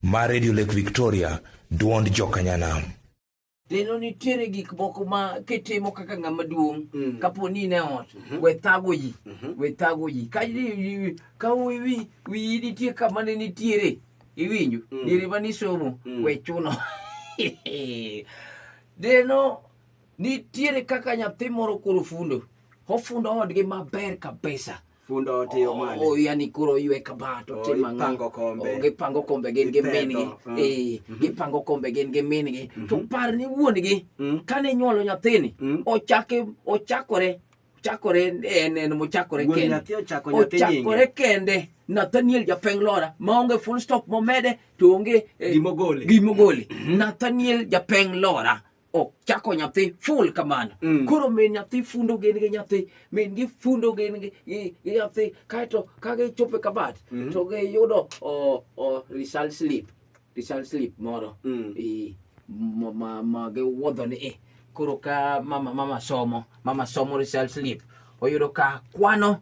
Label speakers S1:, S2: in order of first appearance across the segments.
S1: mar Radio Lake Victoria, duond jokanyanam. Neno
S2: nitiere gik moko ma kitimo kaka ng'ama duong' mm. kapo ni ne ot mm -hmm. we thago ji mm -hmm. we thago ji ka ka wiyi wiyi nitie kama ne nitiere iwinjo mm. diere ma nisomo mm. we chuno deno nitiere kaka nyathi moro koro fundo ofundo odgi maber kabisa
S3: fundo otiyo mane Oh, yani koro oywe
S2: kabat Oh, otimo ang'o? ipango kombe. Oh, gipango kombe gin gi Gipedho, min-gi mm. Eh, gipango kombe gin gi min-gi to par ni wuon-gi Mm. kane nyuolo nyathini Mm. ochake ochakore chakore en en mochakore Wuon kende nyathi ochako nyathi nyinge. ochakore kende nathaniel japeng lora maonge full stop momede to onge eh, Gimogole. gimogole nathaniel japeng lora ok chako nyathi full kamano Mm. koro min nyathi fundo gin gi nyathi min gi fundo gin gi gi- gi nyathi kaeto ka gichopo e kabat Mhm. to giyudo o- o result slip result slip moro Mm. i- ma- ma ma giwuodho ni i koro ka mama mama somo mama somo result slip oyudo ka kwano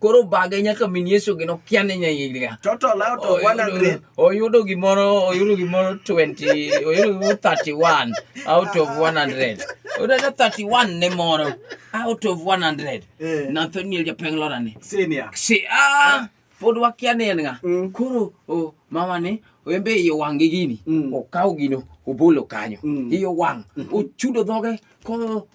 S2: koro obage nyaka min yesu gi nokia ni nyaiga total out
S3: of 100 oyudo gimoro
S2: oyudo gimoro 20 oyudo gimoro 31 out of 100 oyudo 31 ne moro out of 100 eh. nathaniel japenglora ni senior si ah pod wakia ni en nga mm. koro mama ni embe iye wangi gini mm. okaw gino obolo kanyo mm. iye wang mm-hmm. ochudo dhoge ko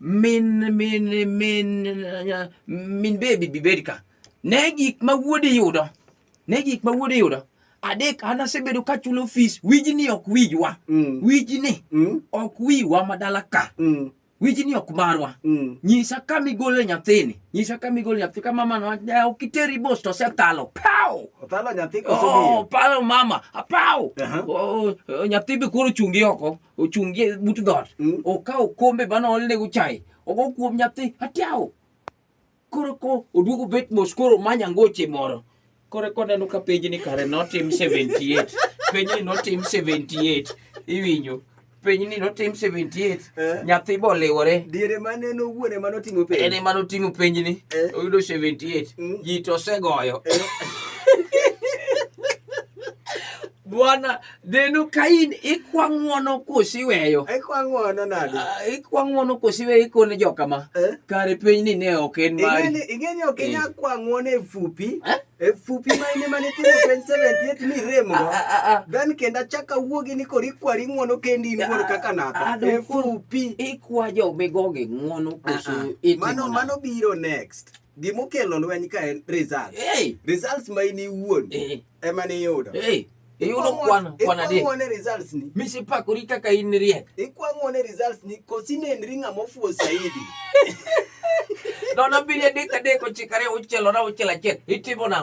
S2: min min min min bebi bibed ka ne gik ma wuodi yudo ne gik ma wuodi yudo adek an asebedo ka chulo fees wijni ok wijwa mm. wijni mm. ok wiwa madala ka mm. wijni ok marwa mm. nyisa ka migole nyathini nyisa ka migole nyathi ka mama no eh, ok iteri bos to setalo pow otalo
S3: nyathi ko oh, palo mama
S2: apow uh -huh. oh, oh, nyathi be koro chungi oko ochung' gi but dhot Mm. okawo okombe mane oolnego chai ogo kuom nyathi atiao koro ko oduogo bet mos koro manya ngoche moro koro koneno ka penjni kare notim 78 penjni notim 78 iwinjo penjni notim 78 Eh. nyathi boliwore diere mane nowuone
S3: mane otimo piny en ema noting'o penjni
S2: Eh. oyudo 78 Mm. ji to osegoyo Bwana, neno ka in ikwa ng'wono kosi iweyo. Ikwa ng'wono nade?
S3: Ah, ikwa ng'wono kosi
S2: iweyo ikone joka ma. Eh? Kare piny ni ne ok en mari. Ingeni ingeni ok inya eh.
S3: kwa ng'wono e fupi. Eh? E fupi ma ine mane timo 2078 ni remo. Dan ah, ah, kenda chaka wuogi ni kori kwari ng'wono kendi in wuon kaka naka. E fupi. Ikwa jo
S2: migoge ng'wono kosi itimo. Mano mano
S3: biro next. Gima okelo lweny ka en results. Hey. Results ma in iwuon Eh. ema ni iyudo. Hey. Iyudo
S2: kwan kwan adek. Ikwang'o ne results ni.
S3: Misepakori kaka in
S2: riek. Ikwang'o ne results
S3: ni kosi nenri ng'ama ofuwo saidi.
S2: Nono abiriyo adek adek ochiko ariyo auchiel nono auchiel achiel. Itimo nang'o?